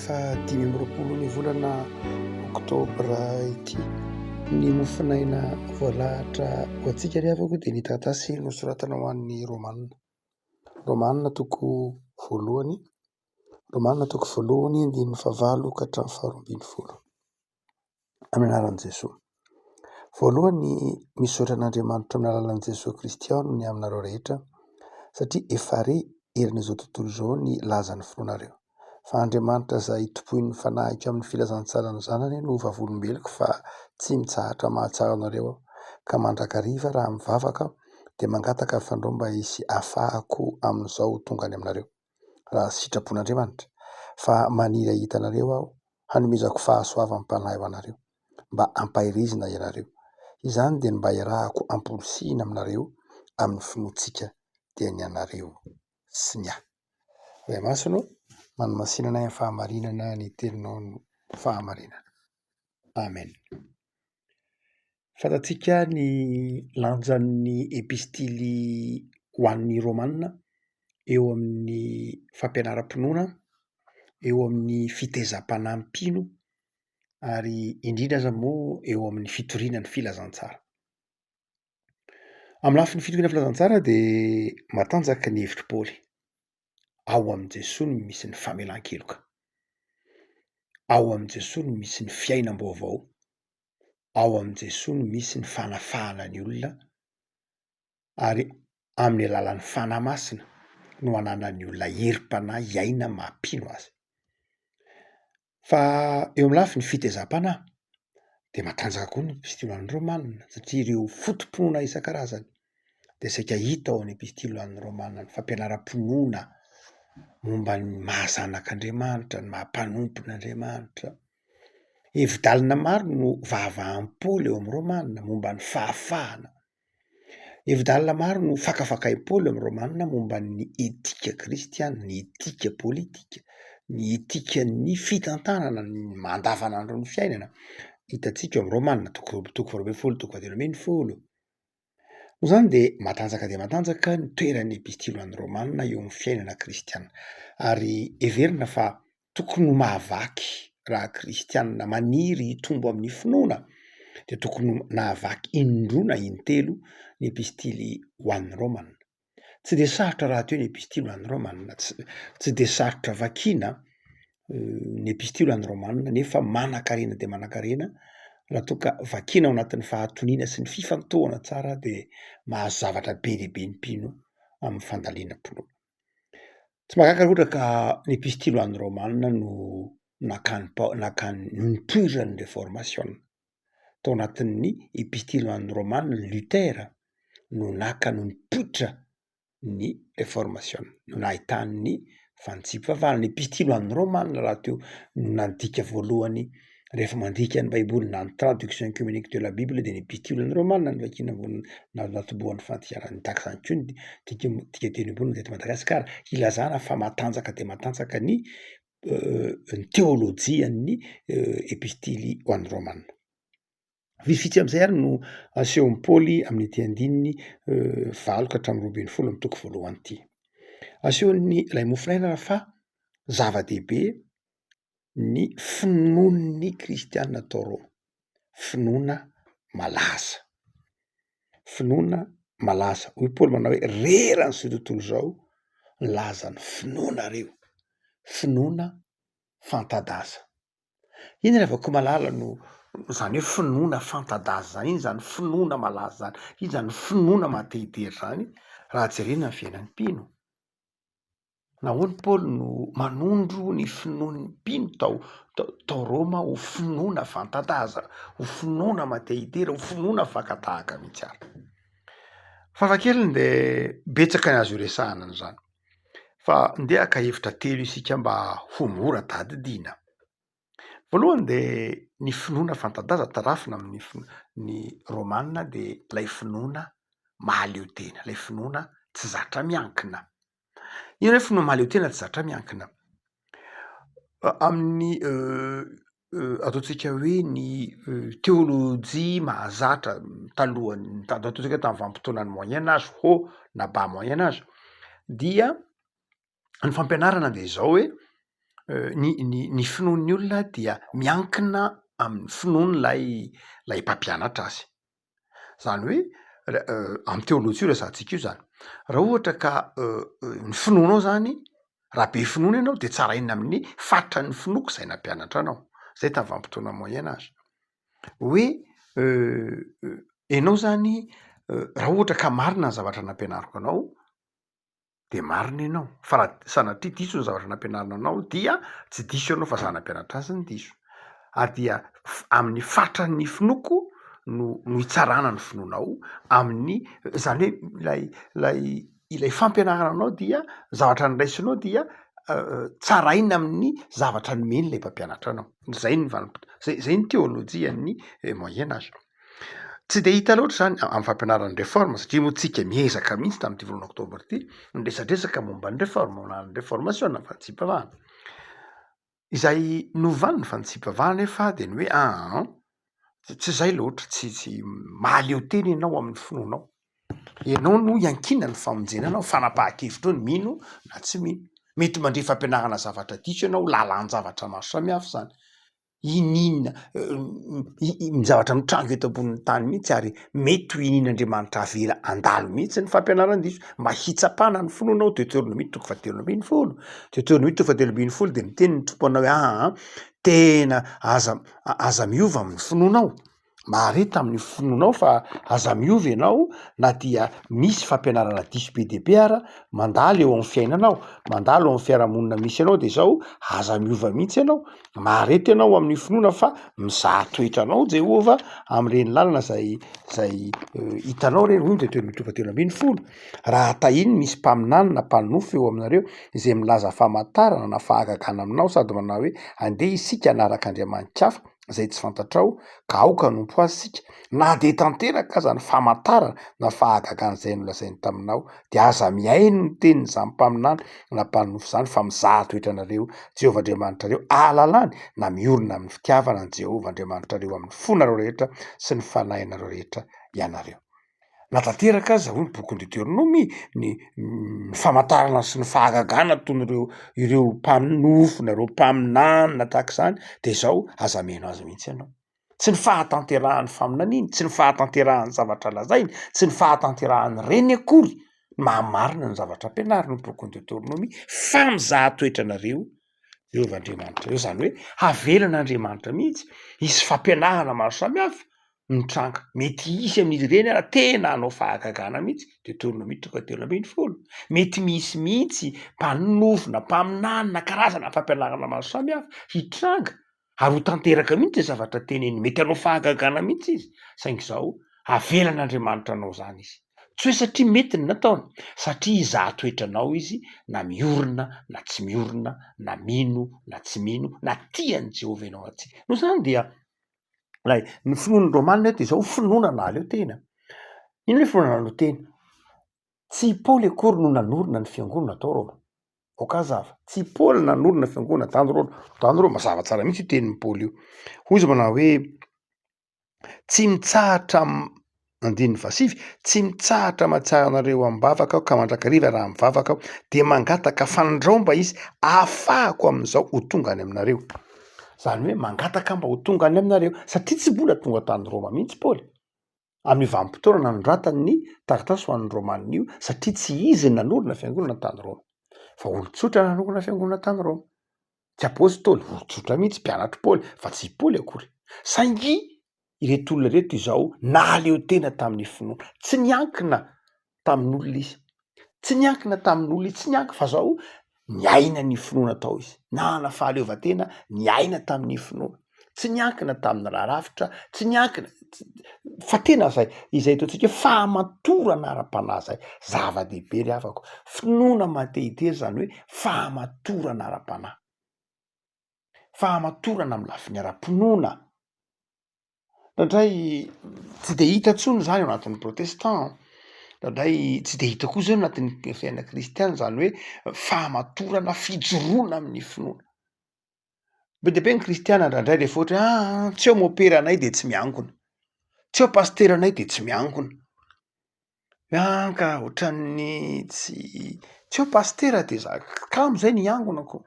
Fahadimy amby roapolo ny volana oktobra ity. Ny mofonaina voalahatra ho antsika ry havako dia ny taratasy nosoratana ho an'ny Romanina. Romanina toko voalohany, Romanina toko voalohany andininy fahavalo ka hatramin'ny faharoa ambin'ny folo. amin'ny anaran'i Jesoa. Voalohany, misaotra an'Andriamanitra amin'ny alalan'i Jesoa Kristy aho ny aminareo rehetra satria efa re herin'izao tontolo izao ny lazan'ny finoanareo. Fa Andriamanitra izay tompoin'ny fanahiko amin'ny filazantsaran'ny Zanany no vavolombeloko fa tsy mitsahatra mahatsiaro anareo aho ka mandrakariva raha mivavaka aho dia mangataka ny fandrombahany sy afahako amin'izao tonga any aminareo. raha sitrapon'Andriamanitra, fa maniry hahita anareo aho, hanomezako fahasoavam-panahy ho anareo, mba hampaherezina ianareo. Izany dia ny mba hiarahako amporisihina aminareo amin'ny finoantsika dia ny anareo sy ny ahy. Ray Masina ô, manamasina anay amin'ny fahamarinana ny Teninao no fahamarinana. Amen. Fantatsika ny lanjan'ny epistily ho an'ny Romana eo amin'ny fampianaram-pinoana, eo amin'ny fitezam-panahy mpino ary indrindra aza moa eo amin'ny fitoriana ny filazantsara. Amin'ny lafiny fitoriana ny filazantsara dia matanjaka ny hevitr'i Paoly. Ao amin'i Jesoa no misy ny famelan-keloka. Ao amin'i Jesoa no misy ny fiainam-baovao. ao amin'i Jesoa no misy ny fanafahana ny olona ary amin'ny alalan'ny Fanahy Masina no ananan'ny olona herim-panahy hiaina maha-mpino azy. Fa eo amin'ny lafiny fitezam-panahy dia matanjaka koa ny epistily ho an'ny Romana satria ireo foto-pinoana isan-karazany dia saika hita ao amin'ny epistily ho an'ny Romana, ny fampianaram-pinoana momba ny maha-zanak'Andriamanitra, ny maha-mpanompon' Andriamanitra. Hevi-dalina maro no vahavam-poana eo amin'ny romanina momba ny fahafahana. Hevi-dalina maro no fakafakaim-poana eo amin'ny romanina momba ny etika kristiana, ny etika politika, ny etikan'ny fitantanana ny andavanandron'ny fiainana. Hitantsika ao amin'ny romanina toko roa amby- toko faharoa ambin'ny folo, toko fahatelo ambin'ny folo. Noho izany dia matanjaka dia matanjaka ny toeran'ny Epistily ho an'ny Romana eo amin'ny fiainana kristiana, ary heverina fa tokony ho mahavaky raha kristiana maniry hitombo amin'ny finoana dia tokony ho nahavaky in-droa na in-telo ny Epistily ho an'ny Romana. tsy de sarotra rahateo ny epistily ho an'ny Romana, tsy de sarotra vakiana ny epistily ho an'ny Romana nefa manan-karena dia manan-karena raha toa ka vakiana ao anatin'ny fahatoniana sy ny fifantohana tsara dia mahazo zavatra be dia be ny mpino amin'ny fandalina am-pinoana. Tsy mahagaga ohatra ka ny epistily ho an'ny Romana no nakany Pao- nakany no nipoiran'ny reformasiona tao anatin'ny Epistily ho an'ny Romana i Luther no naka no nipoitra ny reformasiona no nahitany ny fanitsipifavana. Ny Epistily ho an'ny Romana rahateo no nandika voalohany rehefa mandika ny Baiboly na ny Traduction Œcumenique de la Bible dia ny Epistily ho an'ny Romana no vakiana voalohany na natobohan'ny fandikanana ny daka izany koa ny dika dika teny ambony teto Madagasikara hilazana fa matanjaka dia matanjaka ny ny teolojian'ny epistily ho an'ny romana. Vitsivitsy amin'izay ary no asehon'i Paoly amin'ity andininy valo ka hatramin'ny roa ambin'ny folo amin'ny toko voalohany ity. Asehon'ny ilay mofonaina ary fa zava-dehibe ny finoan'ny kristiana tao Roma. finoana malaza. Finoana malaza. Hoy Paoly manao hoe rera an'izao tontolo izao ny lazan'ny finoanareo. Finoana fanta-daza. Inona no avakao malala no izany hoe finoana fanta-daza izany? Inona izany finoana malaza izany? Inona izany finoana maha-te-hijery izany raha jerena ny fiainan'ny mpino? Nahoana i Paoly no manondro ny finoan'ny mpino tao tao Roma ho finoana fanta-daza, ho finoana matehitera, ho finoana fakan-tahaka mihitsy àry? Fafa kely dia betsaka ny azo iresahana an'izany, fa ndeha haka hevitra telo isika mba ho mora tadidiana. Voalohany dia ny finoana fanta-daza tarafina amin'ny ny Romana dia ilay finoana mahaleo tena, ilay finoana tsy zatra miankina. Inona hoe finoana mahaleo tena tsy zatra miankina? Amin'ny ataontsika hoe ny teolojia mahazatra talohan'ny ta- ataontsika hoe tamin'ny vanim-potoanan'ny Moyen Age, haut na bas Moyen Age dia ny fampianarana dia izao hoe ny ny ny finoan'ny olona dia miankina amin'ny finoan'ilay lay mpampianatra azy, zany hoe amin'ny teoloha io resahantsika io zany, raha ohatra ka ny finoanao zany raha be finoana ianao de tsaraina amin'ny faritra ny finoako izay nampianatra anao, zay tamin'ny vanimpotoana moyen age, hoe ianao zany raha ohatra ka marina ny zavatra nampianariko anao. de marina ianao fa raha sanatria diso ny zavatra nampianarina anao dia tsy diso ianao fa za nampianatra azy ny diso ary dia amin'ny fatran'ny finoako no no hitsarana ny finoanao amin'ny zany hoe lay lay ilay fampianarana anao dia zavatra nyraisinao dia euh, tsaraina amin'ny zavatra nomeny ilay mpampianatra anao zay ny vanimpotoa zay zay ny teolojian'ny eh, moyen age Tsy dia hita loatra izany amin'ny fampianarana ny réforme satria moa tsika miezaka mihitsy tamin'ity volana oktobra ity ny resadresaka momba ny réforme ho lany réformation ny fanitsipavahana. Izay novany ny fanitsipavahana nefa dia ny hoe aa tsy izay loatra tsy tsy mahaleo tena ianao amin'ny finoanao. Ianao no iankinana ny famonjena anao fanapahan-kevitra eo ny mino na tsy mino. Mety mandre fampianarana zavatra diso ianao lalan-javatra maro samihafa izany. Iniana ny zavatra mitranga eto ambonin'ny tany mihitsy ary mety ho inian'Andriamanitra avela handalo mihitsy ny fampianaran-diso mba hitsapana ny finoana ao Deoteronomia toko fahatelo ambin'ny folo. Deoteronomia toko fahatelo ambin'ny folo dia miteny ny Tompo anao hoe aa tena aza aza miova amin'ny finoanao. Mahare tamin'ny finoanao fa aza miova ianao na dia misy fampianarana diso be dia be ara, mandalo eo amin'ny fiainana aho, mandalo eo amin'ny fiarahamonina misy anao dia izao, aza miova mihitsy ianao, mahare tena ao amin'ny finoana fa mizaha toetra anao Jehovah amin'ireny lalana izay izay hitanao ireny, hoy ny toetoetry ny Tompo telo ambin'ny folo, raha tahin'ny misy mpaminany na mpanonofy eo aminareo izay milaza famatarana na fahagagana aminao sady manao hoe andeha isika hanaraka andriamanikafa, izay tsy fantatrao ka aoka hanompo azy isika na dia tanteraka aza ny famantarana na fahagagan' izay nolazainy taminao dia aza mihaino ny tenin' izany mpaminany na mpanonofy izany fa mizaha toetra anareo Jehovah Andriamanitrareo ahalalany na miorina amin'ny fitiavana an'i Jehovah Andriamanitrareo amin'ny fonareo rehetra sy ny fanahinareo rehetra ianareo. Na tanteraka aza hoy ny bokin'i Deteronomia ny ny famantarana sy ny fahagagana ataon'ireo ireo mpaminofina, ireo mpaminanina tahaka izany de izao, aza mino azy mihitsy ianao. Tsy ny fahatanterahan'ny faminaniany, tsy ny fahatanterahan'ny zavatra lazainy, tsy ny fahatanterahan'ny reny akory no maha marina ny zavatra ampianariny ny bokin'i Deteronomia fa mizaha toetranareo Jehovah Andriamanitra eo, izany hoe havelan'Andriamanitra mihitsy hisy fampianarana maro samihafa mitranga, mety hisy amin'izy ireny ary tena hanao fahagagana mihitsy, Deoteronomia toko fahatelo ambin'ny folo, mety misy mihitsy mpanorona, mpaminany na karazana fampianarana maro samihafa hitranga ary ho tanteraka mihitsy izay zavatra teneniny, mety hanao fahagagana mihitsy izy, saingy izao avelan'Andriamanitra hanao izany izy, tsy hoe satria mety ny nataony, satria hizaha toetra anao izy na miorina na tsy miorina, na mino na tsy mino, na tia an'i Jehovah ianao na tsia. Noho izany dia ilay ny finoan'ny Romana eto izao finoana nahaleo tena. Inona ilay finoana nahaleo tena? Tsy i Paoly akory no nanorina ny fiangonana tao Roma, ok aza fa tsy i Paoly nanorina fiangonana zany rô zany rô mazava tsara mihitsy io tenin'i Paoly io hoy izy manao hoe tsy mitsahatra andininy fasivy tsy mitsahatra mahatsiaro anareo am-bavaka aho ka mandrakariva raha mivavaka aho dia mangataka fanandrao mba izy ahafahako amin'izao ho tonga any aminareo zany hoe mangataka mba ho tonga any aminareo satria tsy mbola tonga tany Roma mihitsy Paoly amin'ny vanim-potoana nanoratany ny taratasy ho an'ny Romanina io, satria tsy izy no nanorina fiangonana tany Roma, fa olon-tsotra nanorina fiangonana tany Roma. Tsy apostoly, olon-tsotra mihitsy, mpianatr'i Paoly, fa tsy i Paoly akory. Saingy ireto olona ireto izao nahaleo tena tamin'ny finoana, tsy niankina tamin'olona izy. Tsy niankina tamin'olona izy, tsy niankina fa zao niaina ny finoana tao izy. Nanana fahaleovantena niaina tamin'ny finoana. Tsy niankina tamin'ny raha rafitra, tsy niankina fa tena zay izay ataontsika hoe fahamatorana ara-panahy zay. Zava-dehibe ry havako. Finoana matehitery zany hoe fahamatorana ara-panahy. Fahamatorana amin'ny lafiny ara-pinoana. Indraindray tsy dia hita intsony izany ao anatin'ny protestant, indraindray tsy dia hita koa izany ao anatin'ny fiainana kristiana izany hoe fahamatorana, fijoroana amin'ny finoana. Be dia be ny kristiana indraindray rehefa ohatra hoe aa tsy eo moperanay dia tsy miangona, tsy eo pasteranay dia tsy miangona. Miangavy ohatran'ny tsy tsy eo pasitera dia za kamo zay no hiangonako,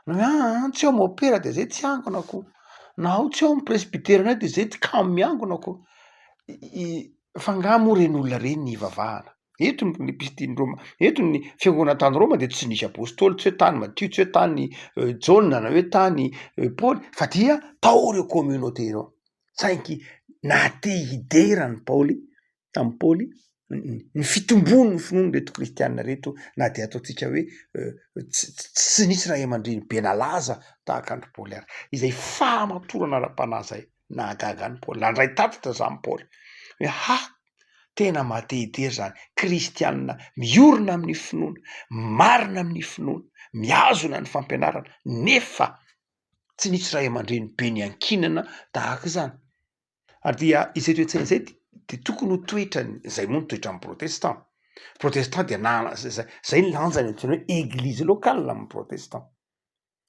na hoe aa tsy eo mopera dia zay tsy hiangonako, na ao tsy eo ny presbyteranay dia zay tsy kamo miangonako, fa nga moa reny olona reny ny hivavahana? Eto ny mpisitrin'ny Roma, eto ny fiangonana tany Roma dia tsy nisy apostoly, tsy hoe tany Matio, tsy hoe tany Jaona na hoe tany Paoly fa dia tao ireo communauté ireo, saingy naha te hidera an'i Paoly tamin'i Paoly ny fitomboan'ny finoan'ireto kristiana ireto na dia ataontsika hoe tsy tsy nisy ray aman-dreny be nalaza tahaka an-dry Paoly ary. Izay fahamatorana ara-panahy izay nahagaga an'i Paoly, nandray tatitra izany Paoly hoe ha! tena mahatehetery izany, kristiana miorina amin'ny finoana, marina amin'ny finoana, mihazona ny fampianarana nefa tsy nisy ray aman-dreny be niankinana tahaka izany. ary dia izay toe-tsaina izay dia tokony ho toetrany, izay moa ny toetran'ny protestant, protestant dia nana zay zay ny lanjany antsoina hoe eglise locale amin'ny protestant,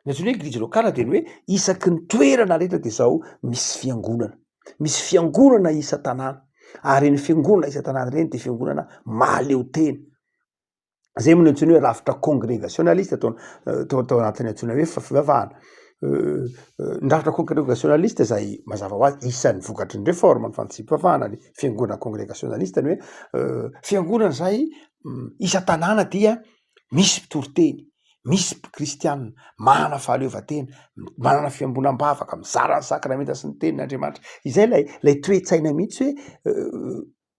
ny antsoina hoe eglise locale dia ny hoe isaky ny toerana rehetra dia zao misy fiangonana, misy fiangonana isan-tanàna ary ireny fiangonana isan-tanàna ireny dia fiangonana mahaleotena, zay moa no antsoina hoe rafitra congregationaliste tao euh, tao tao anatin'ny antsoina hoe fivavahana euh, euh, ny rafitra congregationaliste zay mazava ho azy isan'ny vokatry ny réforme ny fantsipivavahana ny fiangonana congregationaliste ny hoe fiangonana zay mm, isa tanàna dia misy mpitoriteny misy kristianina manana fahaleovantena manana fiambonam-bavaka mizara ny sakramenta sy ny tenin'andriamanitra izay lay lay toetsaina mihitsy hoe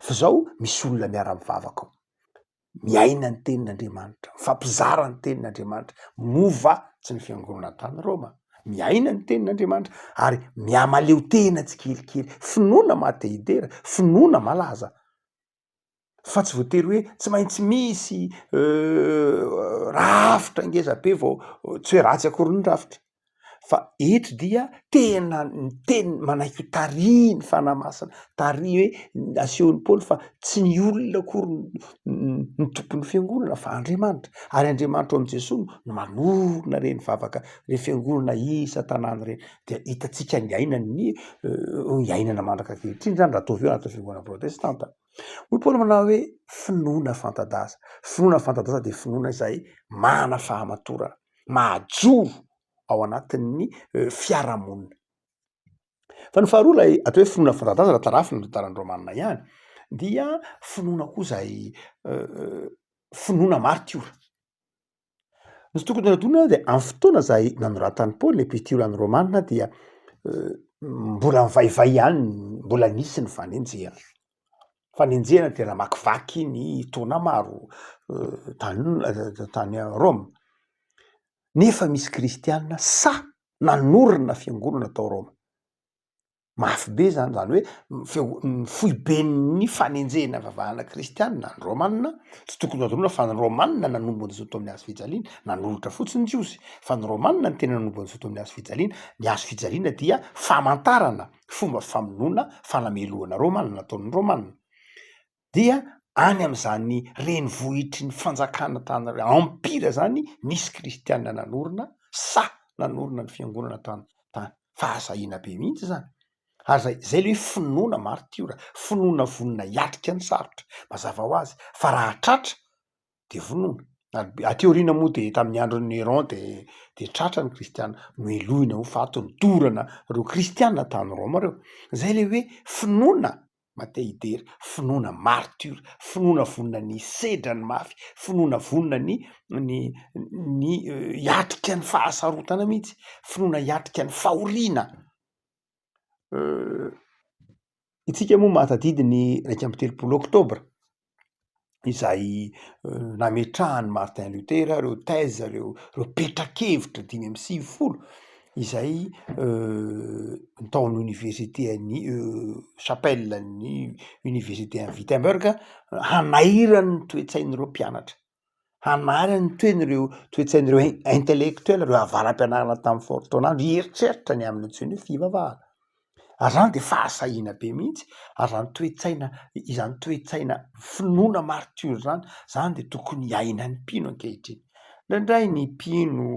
F'izao misy olona miara-mivavaka ao, miaina ny Tenin'Andriamanitra, mifampizara ny Tenin'Andriamanitra, mova tsy ny fiangonana tany Roma, miaina ny Tenin'Andriamanitra ary mihamaleo tena tsikelikely, finoana maha-te-hidera, finoana malaza, fa tsy voatery hoe tsy maintsy misy rafitra ngeza be vao tsy hoe ratsy akory ny rafitra. fa eto dia tena ny teny manaiky ho tarihy ny fanahy masina tarihy hoe asehon'i paoly fa tsy ny olona akory ny tompon'ny fiangonana fa andriamanitra ary andriamanitra ao amin'i jesoa no manorina ireny vavaka reny fiangonana isa tanàna ireny dia hitantsika ny ainan'ny eh, ny ainana mandrak'ankehitriny zany raha ataovy eo anatin'ny fiangonana protestanta hoy paoly manao hoe finoana fanta-daza finoana fanta-daza dia finoana izay mana fahamatorana mahajoro ao anatin'ny fiarahamonina. Fa ny faharoa ilay atao hoe finoana fanta-daza raha tarafina ny tantaran'i Raomanina ihany dia finoana koa izay finoana martiora. Ny tokony hanadino dia amin'ny fotoana izay nanoratan'i Paoly epistily an'i Raomanina dia mbola mivaivay ihany mbola nisy ny fanenjehana. fanenjehana dia namakivaky ny taona maro tany tany Roma. Nefa misy kristiana sa nanorina fiangonana tao Roma. Mafy be zany, zany hoe feo- ny foiben'ny fanenjehana vavahana kristiana ny Romanina, tsy tokony hadinoina fa ny Romanina nanombo an'izao tamin'ny hazo fijaliana, nanolotra fotsiny ny Jiosy, fa ny Romanina no tena nanombo an'izao tamin'ny hazo fijaliana, ny hazo fijaliana dia famantarana fomba famonoana fanamelohana romana nataon'ny romana dia any amin'izany renivohitry ny fanjakana tany empire zany nisy kristiana nanorina saha nanorina ny fiangonana tany tany fahasahiana be mihitsy zany ary zay zay le hoe finoana martiora finoana vonona hiatrika ny sarotra mazava ho azy fa raha tratra de vonoina ary aty aoriana moa de tamin'ny andron'i Néron de de tratra ny kristiana nohelohina ho faty nodorana reo kristiana tany Roma reo zay le hoe finoana matehidera finoana martiora finoana vonona ny hisedra ny mafy finoana vonona ny ny ny hiatrika ny fahasarotana mihitsy finoana hiatrika ny fahoriana Isika moa mahatadidy ny iraika amby telopolo oktobra izay nametrahan'i Martin Luther ireo thèse, ireo petra-kevitra dimy amby sivifolo izay tao amin'ny oniversite an'i chapelle an'ny oniversite an'i Wittemberg hanairany ny toe-tsain'ireo mpianatra. hanary ny toeny ireo toe-tsain'ireo in- intellectuel, ireo avara-pianarana tamin'ny faoritaon'andro hieritreritra ny amin'ny antsoiny hoe fivavahana. Ary izany dia fahasahiana be mihitsy, ary izany toe-tsaina, izany toe-tsaina finoana maritiora izany, izany dia tokony iainan'ny mpino ankehitriny. Indraindray ny mpino,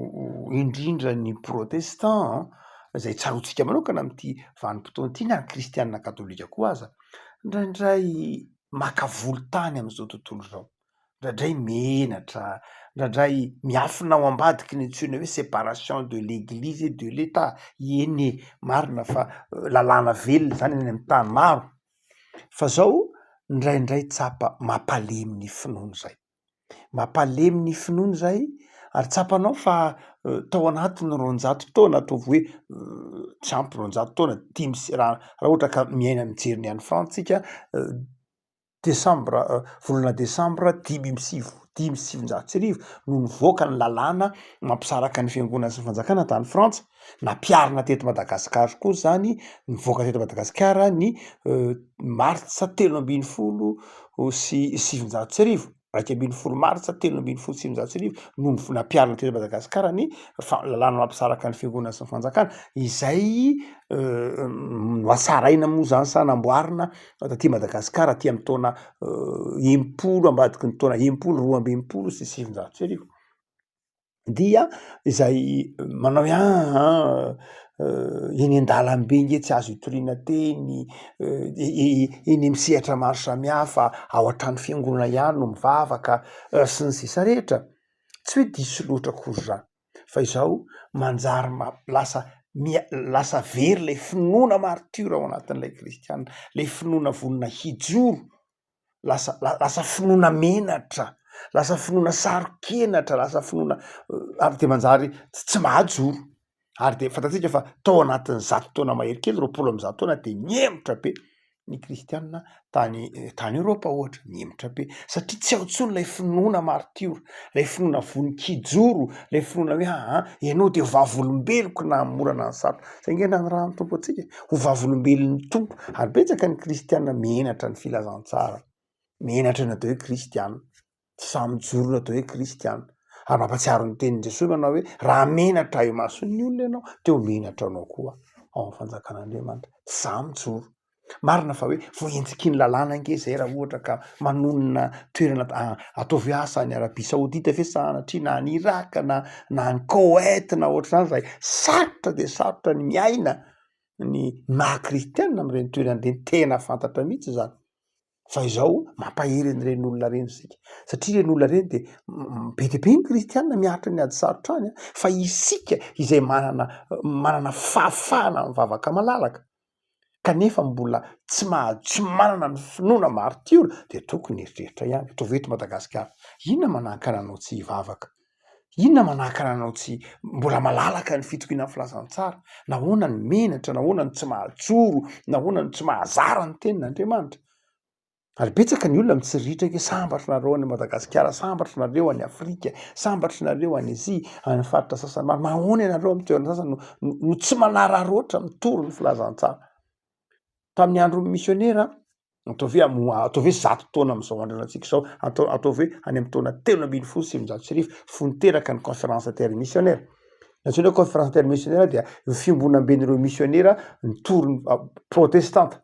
indrindra ny protestant, izay tsaroantsika manokana amin'ity vanim-potoana ity, na ny kristiana katolika koa aza, indraindray maka volon-tany amin'izao tontolo izao. indraindray menatra, indraindray miafina ao ambadiky ny antsoina hoe separation de l'eglise et de l'etat, eny e! marina fa lalàna velona izany any amin'ny tany maro fa zao indraindray tsapa mampalemy ny finoana izay, mampalemy ny finoana izay ary tsapanao fa tao anatin'ny roanjato taona ataovy hoe tsy ampy roanjato taona dimy sy raha ohatra ka miaina mijery ny any France tsika desambra volana desambra dimy amby siv- dimy sy sivinjato sy arivo no nivoaka ny lalàna mampisaraka ny fiangonana sy ny fanjakana tany frantsa nampiharina teto madagasikara koa zany nivoaka teto madagasikara ny martsa telo ambin'ny folo sy sivinjato sy arivo iraika ambin'ny folo martsa telo ambin'ny folo sy sivinjato sy arivo no nivon- nampiharina teto Madagasikara ny fa- lalàna mampisaraka ny fiangonana sy ny fanjakana izay nohatsaraina moa zany sa namboarina taty Madagasikara aty amin'ny taona enimpolo ambadiky ny taona enimpolo roa amby enimpolo sy sivinjato sy arivo. dia izay manao hoe aa eny an-dalambe nge tsy azo itoriana teny, eny amin'ny sehatra maro samihafa, ao an-trano fiangonana ihany no mivavaka sy ny sisa rehetra, tsy hoe diso loatra akory izany fa izaho manjary ma- lasa mia- lasa very ilay finoana maritiora ao anatin'ilay kristiana, ilay finoana vonona hijoro lasa lasa finoana menatra, lasa finoana saro-kenatra, lasa finoana ary dia manjary tsy mahajoro. Ary dia fantatsika fa tao anatin'ny zato taona mahery kely, roapolo amby zato taona dia nihemotra be ny kristianina tany tany Eoropa ohatra, nihemotra be satria tsy ao intsony ilay finoana maritiora, ilay finoana vonon-kijoro, ilay finoana hoe aa ianao dia vavolombeloko nahamorana ny sarotra. Taingina ny ran'ny Tompo antsika ho vavolombelon'ny Tompo ary betsaka ny kristiana menatra ny filazantsara, menatra ny atao hoe kristiana, tsy sahy mijoro ny atao hoe kristiana. Ary mampatsiaro ny tenin'i Jesoa manao hoe raha menatra imason'ny olona ianao dia ho menatra anao koa ao amin'ny fanjakan'Andriamanitra, tsy sahy mijoro. Marina fa hoe voaenjiky ny lalàna ange zay raha ohatra ka manonona toerana ataovy asa any Arabia Saodita ve sanatria na any Iraka na na any Koweït na ohatr'izany zay sarotra dia sarotra ny miaina ny maha kristiana amin'ireny toerana ireny tena fantatra mihitsy izany fa izao mampahery an'ireny olona ireny isika satria ireny olona ireny dia be dia be ny kristiana miaritra ny ady sarotra any fa isika izay manana manana fahafahana mivavaka malalaka kanefa mbola tsy maha tsy manana ny finoana maritiora dia tokony hieritreritra ihany ataovy eto Madagasikara inona manakana anao tsy hivavaka inona manakana anao tsy mbola malalaka ny fitokinan'ny filazantsara nahoana ny menatra nahoana ny tsy mahatsoro nahoana ny tsy mahazara ny tenin'Andriamanitra ary betsaka ny olona mitsiriritra hoe sambatry nareo any Madagasikara, sambatry nareo any Afrika, sambatry nareo any Azia, any faritra sasany maro, nahoana ianareo amin'ny toerana sasany no, no tsy manararaotra mitory ny filazantsara. Tamin'ny andron'ny misionera, ataovy hoe amo, ataovy hoe zato taona amin'izao androna antsika izao, atao, ataovy hoe any amin'ny taona telo ambin'ny folo sy sivinjato sy arivo, fony teraka ny conférence intermisionera. Ny antsoina hoe conférence intermisionera dia ny fiombonamben'ireo misionera nitory ny protestanta.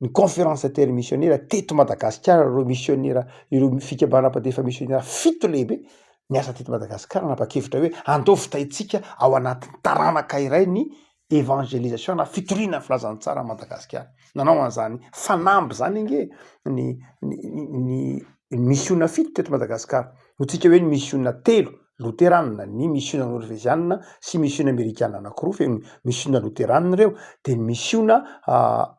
ny conférence intermisionera teto Madagasikara ireo misionera ireo fikambanana mpandefa misionera fito lehibe niasa teto Madagasikara nanapa-kevitra hoe andao vitaintsika ao anatin'ny taranaka iray ny evangelisation na fitoriana ny filazantsara an'i Madagasikara. Nanao an'izany fanamby izany ange ny ny ny ny misiona fito teto Madagasikara, hoy tsika hoe ny misiona telo loteranina, ny misiona norvezianina sy misiona amerikana anankiroa feno misiona loteranina ireo, dia ny misiona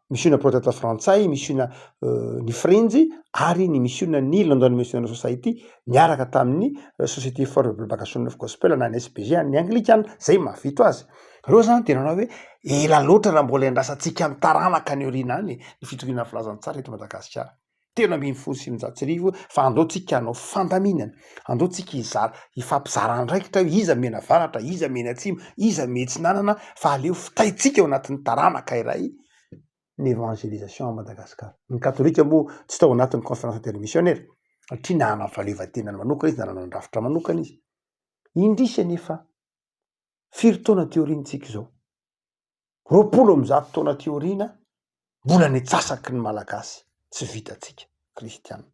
misiona protesta frantsay, misiona ny frenjy ary ny misiona ny London Missionary Society niaraka tamin'ny Société for the Propagation of Gospel na ny SPG an'ny anglikana, izay mahavita azy. Ireo izany dia nanao hoe ela loatra raha mbola iandrasantsika ny taranaka any aoriana any ny fitoriana ny filazantsara eto Madagasikara. telo ambin'ny folo sy sivinjato sy arivo fa andao tsika hanao fandaminana andao tsika hizara hifampizara andraikitra hoe iza miena avaratra iza mieny atsimo iza mieny atsinanana fa aleo fitaintsika eo anatin'ny taranaka iray ny évangélisation à Madagascar ny katolika moa tsy tao anatin'ny conférence intermissionnaire satria nanana ny fahaleovantenany manokana izy nanana ny rafitra manokana izy indrisy anefa firy taona ty aoriantsika izao roapolo amby zato taona aty aoriana mbola ny antsasaky ny malagasy tsy vitantsika kristianina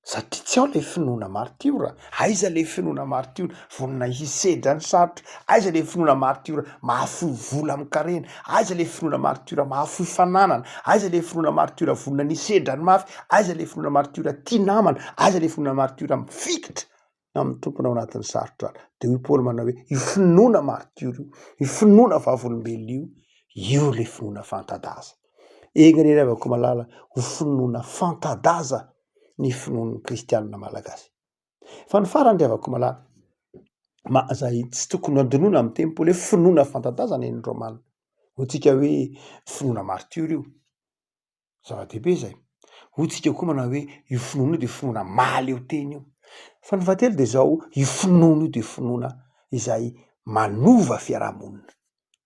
satria tsy ao le finoana maritiora aiza le finoana maritiora vonona hisedra ny sarotra aiza le finoana maritiora mahafoy vola amy karena aiza le finoana maritiora mahafoy fananana aiza le finoana maritiora vonona ny hisedra ny mafy aiza le finoana maritiora tia namana aiza le finoana maritiora mifikitra amin'ny tompony ao anatin'ny sarotra any. Dia hoy Paoly manao hoe, io finoana martiora io, io finoana vavolombelona io, io ilay finoana fanta-daza. Enga anie ry havako malala, ho finoana fanta-daza ny finoan'ny kristianina malagasy. Fa ny farany ry havako malala, ma, izay tsy tokony handinoana amin'ny teny Paoly hoe finoana fanta-daza ny an'ny Romana. Hoy tsika hoe finoana martiora io. zava-dehibe zay. Hoy tsika koa manao hoe io finoana io de finoana mahaleo tena io. Fa ny fahatelo de zao, io finoana io de finoana izay manova fiarahamonina.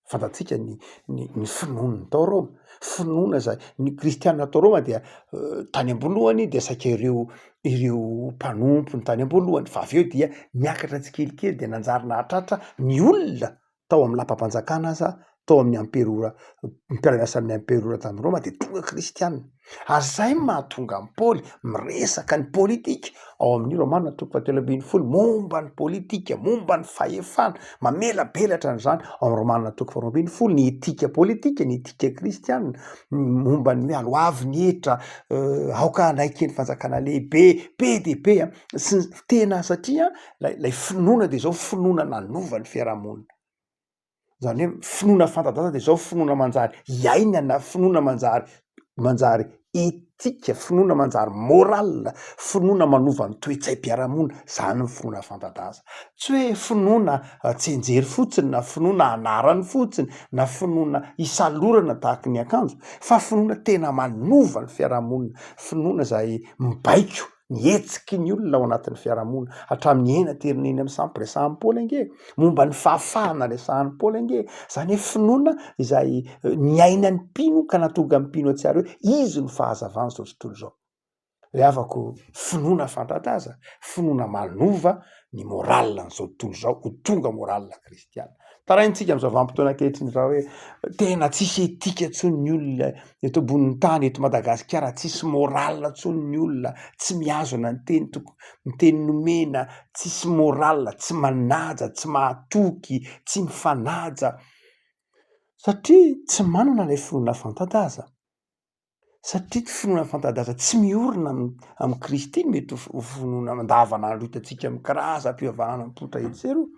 Fantatsika ny ny ny finoan'ny tao Roma, finoana zay ny kristiana tao Roma dia tany am-boalohany dia saika ireo ireo mpanompony tany am-boalohany fa avy eo dia niakatra tsikelikely de nanjary nahatratra ny olona tao amin'ny lapam-panjakana aza tao amin'ny amperora mpiara-miasa amin'ny amperora tany Roma dia tonga kristiana ary izay no mahatonga an'i Paoly miresaka ny politika ao amin'ny Romana toko fahatelo ambin'ny folo momba ny politika momba ny fahefana mamelabelatra an'izany ao amin'ny Romana toko faharoa ambin'ny folo ny etika politika ny etika kristiana momba ny hoe aloavy ny hetra euh, aoka hanaiky ny fanjakana lehibe be dia be sy tena satria lay lay finoana de zao finoana nanova ny fiarahamonina zany hoe finoana fanta-daza de zao finoana manjary iainana finoana manjary manjary etika finoana manjary morale finoana manova ny toe-tsaim-piarahamonina zany ny finoana fanta-daza tsy hoe finoana tsenjery fotsiny na finoana anarany fotsiny na finoana isalorana tahaka ny akanjo fa finoana tena manova ny fiarahamonina finoana zay mibaiko ny hetsiky ny olona ao anatin'ny fiarahamonina hatramin'ny eny aterina eny amin'ny sampy resahan'i Paoly ange momba ny fahafahana resahan'i Paoly ange izany hoe finoana izay eh, niaina ny mpino ka natonga ny mpino atsiary hoe izy no fahazavana izao tontolo izao ry havako finoana fantataza finoana manova ny moral an'izao tontolo izao ho tonga moral kristy Kristiana. Taraintsika amin'ny zavampotona ankehitriny izao hoe tena tsisy etika tsony ny olona eto ambonin'ny tany eto Madagasikara, tsisy moral tsony ny olona, tsy mihazona ny teny toko, ny teny nomena, tsisy moral, tsy manaja, tsy mahatoky, tsy mifanaja satria tsy manana ilay finoana fanta-daza. Satria ity finoana fanta-daza tsy miorina amin'i Kristy no mety ho finoana andavanandro hitantsika amin'ny karazam-pivavahana mipoitra etsy sy eroa,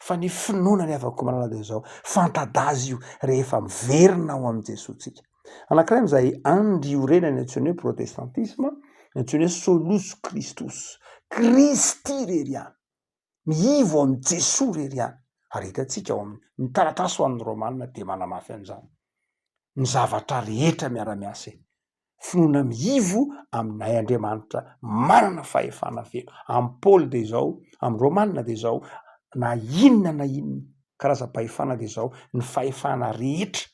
fa ny finoana ny havako malala dia izao, fanta-daza io rehefa miverina ao amin'i Jesoa tsika. Anankiray amin'izay andry iorenany antsoina hoe protestantisma, antsoina hoe solus Christus, Kristy irery ihany. Mihivo amin'i Jesoa irery ihany. Ary hitantsika ao amin'ny, ny taratasy ho an'ny Romana dia manamafy an'izany. Ny zavatra rehetra miara-miasa e. Finoana mihivo aminay Andriamanitra manana fahefana feno. Amin'i Paoly dia izao, amin'ny Romana dia izao, na inona na inona karazam-pahefana dia izao, ny fahefana rehetra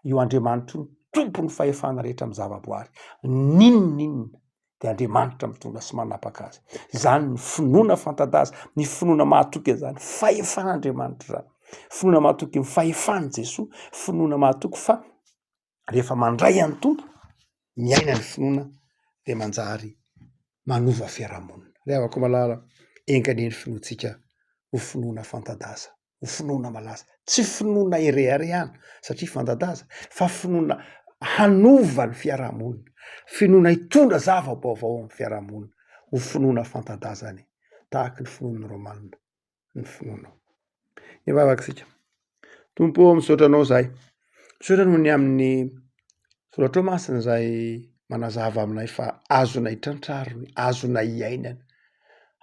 io Andriamanitro io tompon'ny fahefana rehetra amin'ny zavaboary ninoninona dia Andriamanitra mitondra sy manapaka azy izany ny finoana fantadaza ny finoana mahatoky an'izany fahefan'Andriamanitra izany finoana mahatoky ny fahefan'i Jesoa finoana mahatoky fa rehefa mandray an'ny tompo miaina ny finoana dia manjary manova fiarahamonina ry havako malala enga anie ny finoantsika ho finoana fantadaza ho finoana malaza tsy finoana ireary ihany satria fantadaza fa finoana hanova ny fiarahamonina finoana hitondra zava-baovao amin'ny fiarahamonina ho finoana fantadazany tahaky ny finoan'ny romanina ny finoanao ny vavakisika tompo misaotra anao zahay Misaotra noho ny amin'ny soratrao masina izay manazava aminay fa azonay trantrarina, azonay iainana,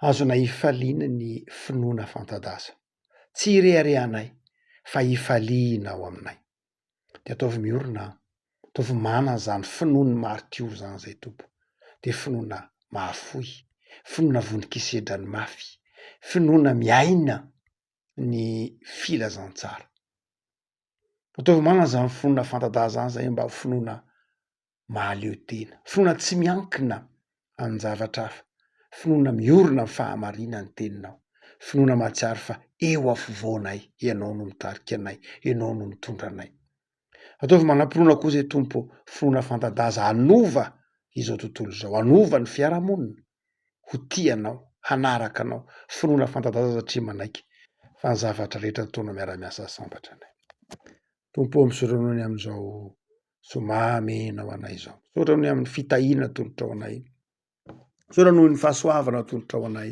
azonay hifaliana ny finoana fanta-daza. Tsy ireharehanay fa ifaliana ao aminay. Dia ataovy miorina aho, ataovy manana izany finoan'ny maritio izany izay Tompo. Dia finoana mahafoy, finoana vononkisedrany mafy, finoana miaina ny filazantsara. Ataovy manana izany finoana fanta-daza izany izay mba finoana mahaleo tena. Finoana tsy miankina amin-javatra hafa. Finoana miorina amin'ny fahamarinan'ny teninao. Finoana mahatsiaro fa eo afovoanay, ianao no mitarika anay, ianao no mitondra anay. Ataovy manam-pinoana koa izay Tompo, finoana fanta-daza hanova izao tontolo izao, hanova ny fiarahamonina. ho tia anao, hanaraka anao, finoana fanta-daza satria manaiky fa ny zavatra rehetra ataonao miara-miasa sambatra ny Ainy. Tompo ô misorona ny amin'izao zoma mena ho anay izao. Misaotra ny amin'ny fitahiana atolotrao anay. Misaotra noho ny fahasoavana atolotrao anay.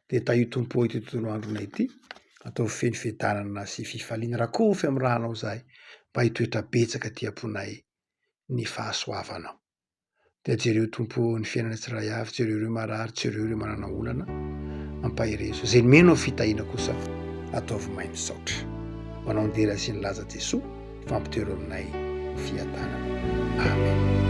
Dia tahio Tompo ity tontolo androna ity. Ataovy feno fiadanana sy fifaliana. Rakofy amin'ny ranao izahay mba hitoetra betsaka aty am-ponay ny fahasoavanao. dia jereo Tompo ny fiainana tsirairay avy, jereo ireo marary, jereo ireo manana olana, ampaherezo. Izay mino ny fitahiana kosa ataovy may misaotra. Ho anao nidera sy nilaza Jesoa, fampitero aminay ny fiadanana. Amen.